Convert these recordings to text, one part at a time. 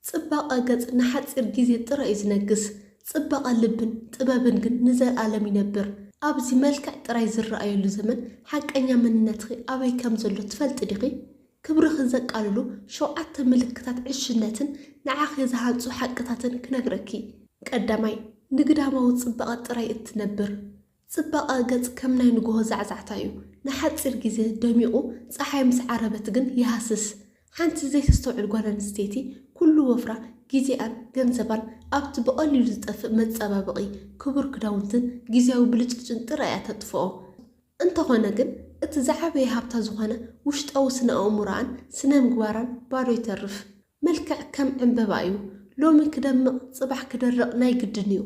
ጽባቐ ገጽ ንሓጺር ግዜ ጥራይ እዩ ዝነግስ፣ ጽባቐ ልብን ጥበብን ግን ንዘልኣለም ይነብር። ኣብዚ መልክዕ ጥራይ ዝረኣየሉ ዘመን ሓቀኛ መንነትኺ ኣበይ ከም ዘሎ ትፈልጢ ዲኺ? ክብርኺ ዘቃልሉ ሸውዓተ ምልክታት ዕሽነትን ንዓኺ ዝሃንጹ ሓቅታትን ክነግረኪ። ቀዳማይ፣ ንግዳማዊ ጽባቐ ጥራይ እትነብር። ጽባቐ ገጽ ከም ናይ ንግሆ ዛዕዛዕታ እዩ፣ ንሓጺር ግዜ ደሚቑ ጸሓይ ምስ ዓረበት ግን ይሃስስ። ሓንቲ ዘይተስተውዕል ጓል ኣንስተይቲ ኩሉ ወፍራ፣ ግዜኣን ገንዘባን ኣብቲ ብቐሊሉ ዝጠፍእ መጸባበቒ፣ ክቡር ክዳውንትን ግዝያዊ ብልጭልጭን ጥራይ እያ ተጥፍኦ። እንተኾነ ግን እቲ ዝዓበየ ሃብታ ዝኾነ ውሽጣዊ ስነ-ኣእምሮኣን ስነ-ምግባራን ባዶ ይተርፍ። መልክዕ ከም ዕንበባ እዩ ሎሚ ክደምቕ ጽባሕ ክደርቕ ናይ ግድን እዩ።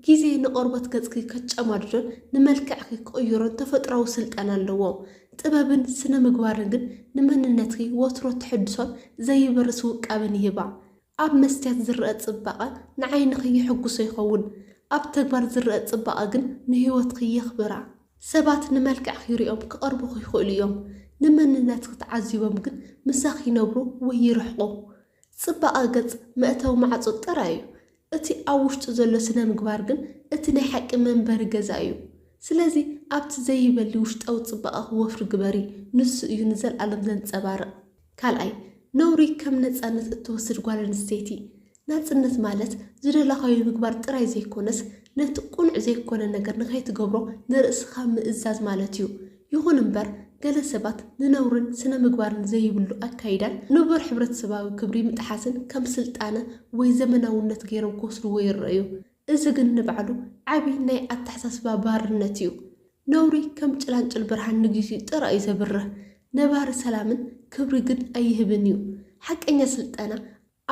ግዜ ንቆርበት ገጽኪ ከጨማድዶን ንመልክዕኪ ክቕይሮን ተፈጥሮኣዊ ስልጣን ኣለዎ። ጥበብን ስነ-ምግባርን ግን ንመንነትኪ ወትሮ ትሕድሶን ዘይበርስ ውቃበን ይህባ። ኣብ መስትያት ዝረኣ ጽባቐ ንዓይንኺ የሕጉሶ ይኸውን፣ ኣብ ተግባር ዝረኣ ጽባቐ ግን ንህይወትኪ የኽብራ። ሰባት ንመልክዕኺ ሪኦም ክቐርቡኺ ይኽእሉ እዮም፣ ንመንነትኺ ተዓዚቦም ግን ምሳኺ ይነብሩ ወይ ይርሕቑ። ጽባቐ ገጽ መእተዊ ማዕጾ ጥራይ እዩ፣ እቲ ኣብ ውሽጡ ዘሎ ስነ-ምግባር ግን እቲ ናይ ሓቂ መንበሪ ገዛ እዩ። ስለዚ ኣብቲ ዘይበሊ ውሽጣዊ ጽባቐኺ ወፍሪ ግበሪ፣ ንሱ እዩ ንዘልኣለም ዘንጸባርቕ። ካልኣይ፣ ነውሪ ከም ነጻነት እትወስድ ጓል ኣንስተይቲ፣ ናጽነት ማለት ዝደለኻዮ ምግባር ጥራይ ዘይኮነስ፣ ነቲ ቅኑዕ ዘይኮነ ነገር ንኸይትገብሮ ንርእስኻ ምእዛዝ ማለት እዩ። ይኹን እምበር፣ ገለ ሰባት ንነውርን ስነ-ምግባርን ዘይብሉ ኣካይዳን ንቡር ሕብረተሰባዊ ክብሪ ምጥሓስን ከም ስልጣነ ወይ ዘመናውነት ገይሮም ክወስድዎ ይረኣዩ። እዚ ግን ንባዕሉ ዓቢ ናይ ኣተሓሳስባ ባርነት እዩ። ነውሪ ከም ጭላንጭል ብርሃን ንግዚኡ ጥራይ እዩ ዘብርህ፣ ነባሪ ሰላምን ክብሪ ግን ኣይህብን እዩ። ሓቀኛ ስልጠና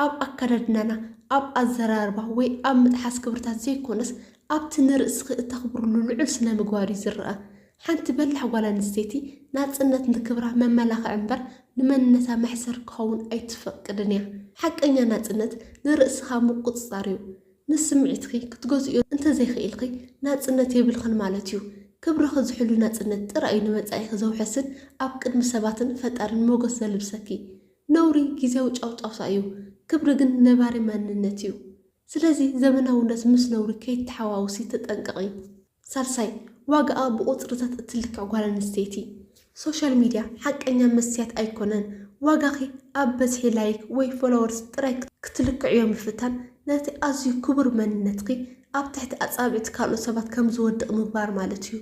ኣብ ኣከዳድናና፣ ኣብ ኣዘራርባ ወይ ኣብ ምጥሓስ ክብርታት ዘይኮነስ ኣብቲ ንርእስኺ እተኽብርሉ ልዑል ስነ-ምግባር እዩ ዝርኣ። ሓንቲ በላሕ ጓል ኣንስተይቲ ናጽነት ንክብራ መመላኽዒ እምበር ንመንነታ መሕሰር ክኸውን ኣይትፈቅድን እያ። ሓቀኛ ናጽነት ንርእስኻ ምቁጽጻር እዩ። ንስምዒትኺ ክትገዝእዮ እንተዘይክኢልኺ ናጽነት የብልክን ማለት እዩ። ክብርኺ ዝሕሉ ናጽነት ጥራይ እዩ ንመጻኢኺ ዘውሕስን ኣብ ቅድሚ ሰባትን ፈጣርን ሞገስ ዘልብሰኪ። ነውሪ ግዝያዊ ጫውጫውታ እዩ፣ ክብሪ ግን ነባሪ መንነት እዩ። ስለዚ ዘመናውነት ምስ ነውሪ ከይተሓዋውሲ ተጠንቀቒ። ሳልሳይ፣ ዋጋኣ ብቑጽርታት እትልክዕ ጓል ኣንስተይቲ። ሶሻል ሚድያ ሓቀኛ መስትያት ኣይኮነን። ዋጋኺ ኣብ በዝሒ ላይክ ወይ ፎሎወርስ ጥራይ ክትልክዕዮ ምፍታን፣ ነቲ ኣዝዩ ክቡር መንነትኪ ኣብ ትሕቲ ኣጻብዕቲ ካልኦት ሰባት ከም ዝወድቕ ምግባር ማለት እዩ።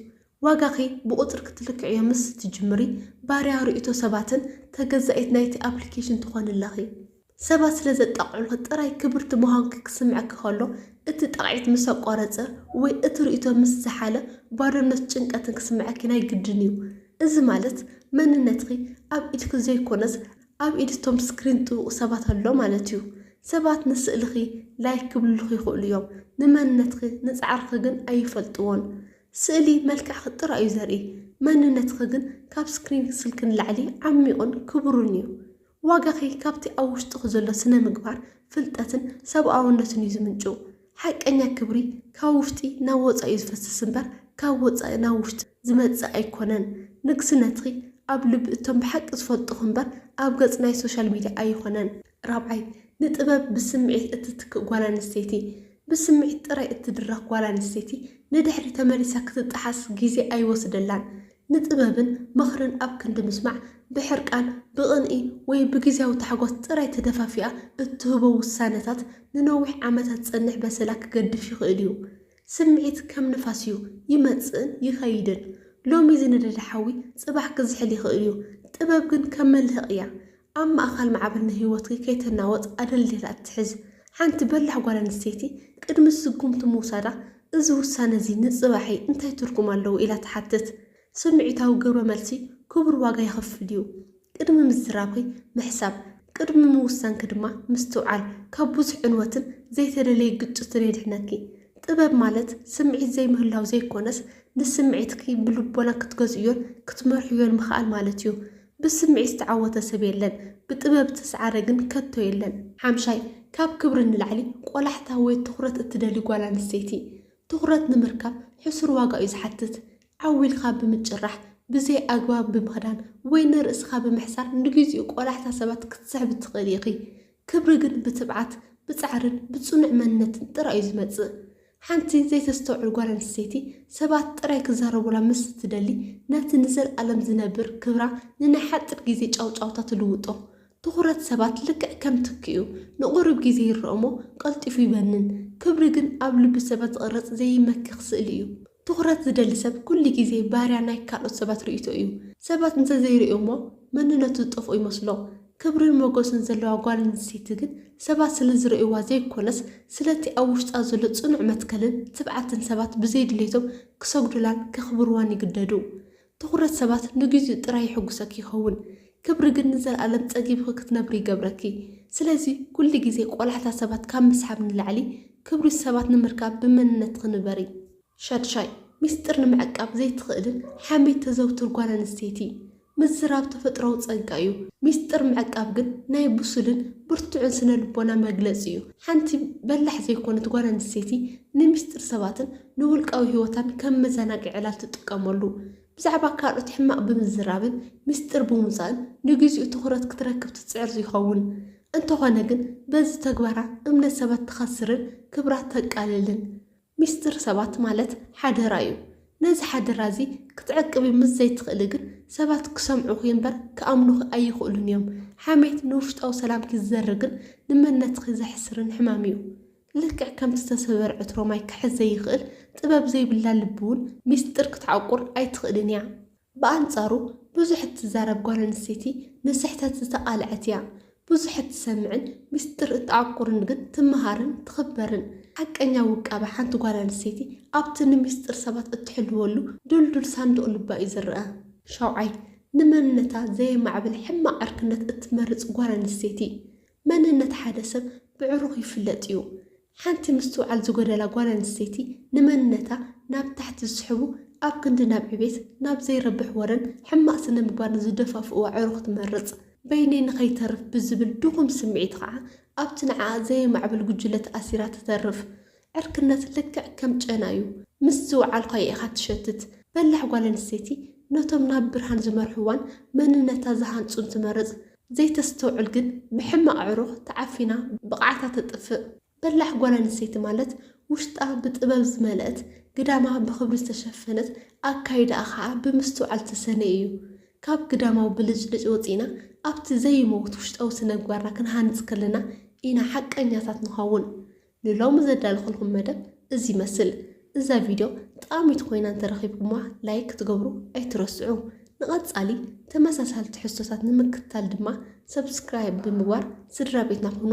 ዋጋኺ ብቑጽሪ ክትልክዕዮ ምስ እትጅምሪ፣ ባርያ ርእይቶ ሰባትን ተገዛኢት ናይቲ ኣፕሊኬሽን ትኾኒ ኣለኺ። ሰባት ስለ ዘጣቕዑልኪ ጥራይ ክብርቲ ምዃንኪ ክስምዐኪ ከሎ፣ እቲ ጣቕዒት ምስ ኣቋረጸ ወይ እቲ ርእይቶ ምስ ዝሓለ ባዶነትን ጭንቀትን ክስምዐኪ ናይ ግድን እዩ። እዚ ማለት መንነትኪ ኣብ ኢድኪ ዘይኮነስ ኣብ ኢድ እቶም ስክሪን ጥውቁ ሰባት ኣሎ ማለት እዩ። ሰባት ንስእልኺ ላይክ ክብሉልኺ ይኽእሉ እዮም፣ ንመንነትኪ ንጻዕርኺ ግን ኣይፈልጥዎን። ስእሊ መልክዕኪ ጥራይ እዩ ዘርኢ፣ መንነትኪ ግን ካብ ስክሪን ስልኪ ንላዕሊ ዓሚቑን ክቡርን እዩ። ዋጋኺ ካብቲ ኣብ ውሽጥኺ ዘሎ ስነ-ምግባር፣ ፍልጠትን ሰብኣውነትን እዩ ዝምንጭው። ሓቀኛ ክብሪ ካብ ውሽጢ ናብ ወጻኢ እዩ ዝፈስስ እምበር ካብ ወጻኢ ናብ ውሽጢ ዝመጽእ ኣይኮነን። ንግስነትኺ ኣብ ልቢ እቶም ብሓቂ ዝፈልጡኺ እምበር ኣብ ገጽ ናይ ሶሻል ሚድያ ኣይኾነን። ራብዓይ፣ ንጥበብ ብስምዒት እትትክእ ጓል ኣንስተይቲ። ብስምዒት ጥራይ እትድረኽ ጓል ኣንስተይቲ ንድሕሪ ተመሊሳ ክትጠሓስ ግዜ ኣይወስደላን። ንጥበብን ምኽርን ኣብ ክንዲ ምስማዕ፣ ብሕርቃን፣ ብቕንኢ ወይ ብግዝያዊ ታሕጓስ ጥራይ ተደፋፊኣ እትህቦ ውሳነታት ንነዊሕ ዓመታት ዝጸንሕ በሰላ ክገድፍ ይኽእል እዩ። ስምዒት ከም ንፋስ እዩ፣ ይመጽእን ይኸይድን። ሎሚ ዝነደደ ሓዊ ጽባሕ ክዝሕል ይኽእል እዩ። ጥበብ ግን ከም መልህቕ እያ፣ ኣብ ማእከል ማዕበል ንህይወትኪ ከይተናወጽ ኣደልዲላ እትሕዝ ሓንቲ በላሕ ጓል ኣንስተይቲ ቅድሚ ስጉምቲ ምውሳዳ፣ እዚ ውሳነ እዚ ንጽባሕይ እንታይ ትርጉም ኣለዎ? ኢላ ትሓትት። ስምዒታዊ ግብረ መልሲ ክቡር ዋጋ የኽፍል እዩ። ቅድሚ ምዝራብኪ ምሕሳብ፣ ቅድሚ ምውሳንኪ ድማ ምስትውዓል ካብ ብዙሕ ዕንወትን ዘይተደለየ ግጭትን የድሕነኪ። ጥበብ ማለት ስምዒት ዘይምህላው ዘይኰነስ፣ ንስምዒትኪ ብልቦና ክትገዝእዮን ክትመርሕዮን ምኽኣል ማለት እዩ። ብስምዒት ዝተዓወተ ሰብ የለን፣ ብጥበብ ዝተስዓረ ግን ከቶ የለን። ሓምሻይ፣ ካብ ክብሪ ንላዕሊ ቆላሕታ ወይ ትኹረት እትደሊ ጓል ኣንስተይቲ፣ ትኹረት ንምርካብ ሕሱር ዋጋ እዩ ዝሓትት። ዓው ኢልካ ብምጭራሕ፣ ብዘይ ኣግባብ ብምኽዳን ወይ ንርእስኻ ብምሕሳር ንግዜኡ ቆላሕታ ሰባት ክትስሕቢ ትኽእሊ ኢኺ። ክብሪ ግን ብትብዓት፣ ብጻዕርን ብጽኑዕ መንነትን ጥራይ'ዩ ዝመጽእ። ሓንቲ ዘይተስተውዕል ጓል ኣንስተይቲ ሰባት ጥራይ ክዛረቡላ ምስ እትደሊ፣ ነቲ ንዘልኣለም ዝነብር ክብራ ንናይ ሓጺር ግዜ ጫውጫውታ ትልውጦ። ትኹረት ሰባት ልክዕ ከም ትኪ'ዩ፣ ንቑሩብ ግዜ ይረኣ'ሞ ቀልጢፉ ይበንን። ክብሪ ግን ኣብ ልቢ ሰባት ዝቕረጽ ዘይመክኽ ስእሊ'ዩ። ትኹረት ዝደሊ ሰብ ኩሉ ግዜ ባርያ ናይ ካልኦት ሰባት ርእይቶ'ዩ። ሰባት እንተ ዘይርእዮም'ሞ መንነቱ ዝጠፍኦ ይመስሎ። ክብርን ሞገስን ዘለዋ ጓል ኣንስተይቲ ግን ሰባት ስለ ዝርእይዋ ዘይኰነስ፣ ስለቲ ኣብ ውሽጣ ዘሎ ጽኑዕ መትከልን ትብዓትን ሰባት ብዘይ ድሌቶም ክሰግዱላን ከኽብርዋን ይግደዱ። ትዅረት ሰባት ንግዜኡ ጥራይ የሐጕሰኪ ይኸውን፣ ክብሪ ግን ንዘለኣለም ጸጊብኺ ክትነብሪ ይገብረኪ። ስለዚ፣ ኵሉ ግዜ ቈላሕታ ሰባት ካብ ምስሓብ ንላዕሊ፣ ክብሪ ሰባት ንምርካብ ብመንነትኺ ንበሪ። ሻድሻይ፣ ሚስጥር ንምዕቃብ ዘይትኽእልን ሓሜት ተዘውትር ጓል ኣንስተይቲ። ምዝራብ ተፈጥሮዊ ጸጋ እዩ፣ ሚስጥር ምዕቃብ ግን ናይ ብሱልን ብርቱዕን ስነ-ልቦና መግለጺ እዩ። ሓንቲ በላሕ ዘይኮነት ጓል ኣንስተይቲ ንሚስጥር ሰባትን ንውልቃዊ ህይወታን ከም መዘናግዒ ዕላል ትጥቀመሉ። ብዛዕባ ካልኦት ሕማቕ ብምዝራብን ሚስጥር ብምውጻእን ንግዜኡ ትኹረት ክትረክብ ትጽዕር ይኸውን። እንተኾነ ግን በዚ ተግባራ እምነት ሰባት ትኸስርን ክብራ ተቃልልን። ሚስጥር ሰባት ማለት ሓደራ እዩ። ነዚ ሓደራ እዚ ክትዕቅቢ ምስ ዘይትኽእሊ ግን ሰባት ክሰምዑኺ እምበር ክኣምኑኺ ኣይኽእሉን እዮም። ሓሜት ንውሽጣዊ ሰላምኪ ዝዘርግን ንመንነትኺ ዘሕስርን ሕማም እዩ። ልክዕ ከምቲ ዝተሰበረ ዕትሮ ማይ ክሕዝ ዘይኽእል ጥበብ ዘይብላ ልቢ እውን ሚስጥር ክትዓቁር ኣይትኽእልን እያ። ብኣንጻሩ ብዙሕ እትዛረብ ጓል ኣንስተይቲ ንስሕተት ዝተቓልዐት እያ። ብዙሕ እትሰምዕን ምስጢር እትዓቁርን ግን ትመሃርን ትኽበርን። ሓቀኛ ውቃበ ሓንቲ ጓል ኣንስተይቲ ኣብቲ ንምስጢር ሰባት እትሕልወሉ ድልዱል ሳንዱቕ ልባ እዩ ዝርኣ። ሻውዓይ፣ ንመንነታ ዘየማዕብል ሕማቕ ዕርክነት እትመርጽ ጓል ኣንስተይቲ። መንነት ሓደ ሰብ ብዕሩኽ ይፍለጥ እዩ። ሓንቲ ምስትውዓል ዝጎደላ ጓል ኣንስተይቲ ንመንነታ ናብ ታሕቲ ዝስሕቡ ኣብ ክንዲ ናብ ዕቤት ናብ ዘይረብሕ ወረን ሕማቕ ስነምግባርን ዝደፋፍእዋ ዕሩኽ ትመርጽ። በይነይ ንኸይተርፍ ብዝብል ድኹም ስምዒት ኸኣ ኣብቲ ንዓኣ ዘየማዕብል ጉጅለ ተኣሲራ ትተርፍ። ዕርክነት ልክዕ ከም ጨና እዩ፣ ምስ ዝወዓልካዮ ኢኻ ትሸትት። በላሕ ጓል ኣንስተይቲ ነቶም ናብ ብርሃን ዝመርሕዋን መንነታ ዝሃንጹን ትመርጽ፣ ዘይተስተውዕል ግን ብሕማቕ ኣዕሩኽ ተዓፊና ብቕዓታ ተጥፍእ። በላሕ ጓል ኣንስተይቲ ማለት ውሽጣ ብጥበብ ዝመልአት፣ ግዳማ ብኽብሪ ዝተሸፈነት፣ ኣካይዳኣ ከኣ ብምስትውዓል ዝተሰነየ እዩ። ካብ ግዳማዊ ብልጭልጭ ወጺእና ኣብቲ ዘይመውት ውሽጣዊ ስነግባርና ክንሃንጽ ከለና ኢና ሓቀኛታት ንኸውን። ንሎሚ ዘዳለኹልኩም መደብ እዚ ይመስል። እዛ ቪድዮ ጠቓሚት ኮይና እንተረኺብኩማ ላይክ ክትገብሩ ኣይትረስዑ። ንቐጻሊ ተመሳሳሊ ትሕዝቶታት ንምክትታል ድማ ሰብስክራይብ ብምግባር ስድራቤትና ኩኑ።